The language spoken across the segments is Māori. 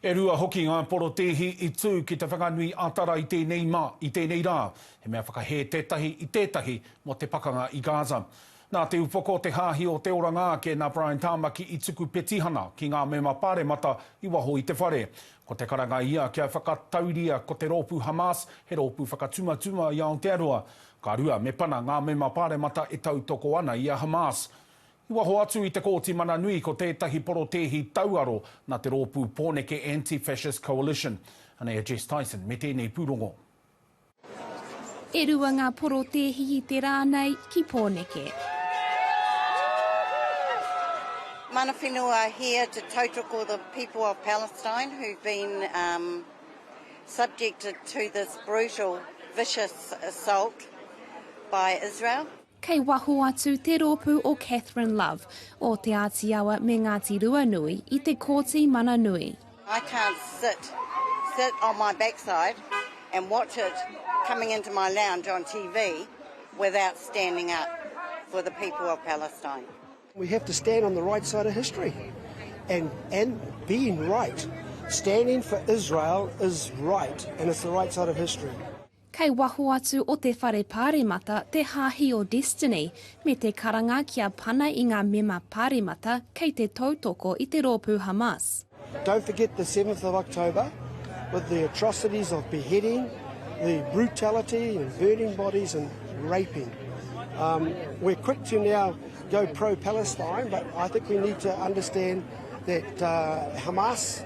E rua hoki ngā porotēhi i tū ki Te Whanganui-a-Tara i tēnei ma, i tēnei rā, he mea whakahē tētahi i tētahi mō te pakanga i Gaza. Nā Te Upoko o te Hāhi o te Oranga ake nā Brian Tāmaki i tuku petihana ki ngā mema pāremata i waho i te whare. Ko te karanga ia kia whakatauria ko te rōpū Hamas he rōpū whakatumatuma i Aotearoa. Ka rua, me pana ngā mema pāremata e tautoko ana i a Hamas. I waho atu i te Kōti Mana Nui ko tētahi porotēhi tauaro nā te rōpū Pōneke Anti-Fascist Coalition. Anei a Jess Tyson me tēnei pūrongo. E rua ngā porotēhi i te rā nei ki Pōneke. Mana whenua here to tautoko the people of Palestine who've been um subjected to this brutal vicious assault by Israel. Kei waho atu te rōpū o Catherine Love, Ōteāti Awa me Ngāti Ruanui i te Kōti Mana Nui. I can't sit sit on my backside and watch it coming into my lounge on TV without standing up for the people of Palestine. We have to stand on the right side of history and and being right, standing for Israel is right and it's the right side of history. Kei waho atu o te Whare Pāremata te Hāhi o Destiny me te karanga kia pana i ngā mema Pāremata kei te tautoko i te rōpū Hamas. Don't forget the seventh of October with the atrocities of beheading, the brutality and burning bodies and raping. Um, we're quick to now go pro-Palestine but I think we need to understand that uh, Hamas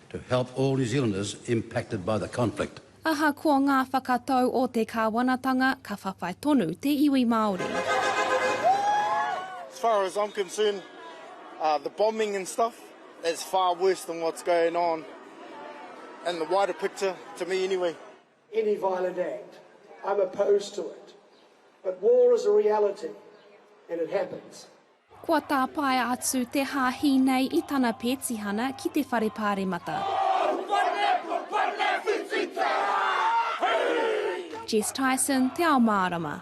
to help all New Zealanders impacted by the conflict. Ahakoa ngā whakatau o te kāwanatanga, ka whawhai tonu te iwi Māori. As far as I'm concerned, the bombing and stuff, that's far worse than what's going on in the wider picture, to me anyway. any violent act, I'm opposed to it, but war is a reality and it happens. Kua tāpaea atu te hāhi nei i tana pētihana ki te Whare Pāremata. Jess Tyson, Te Ao Mārama.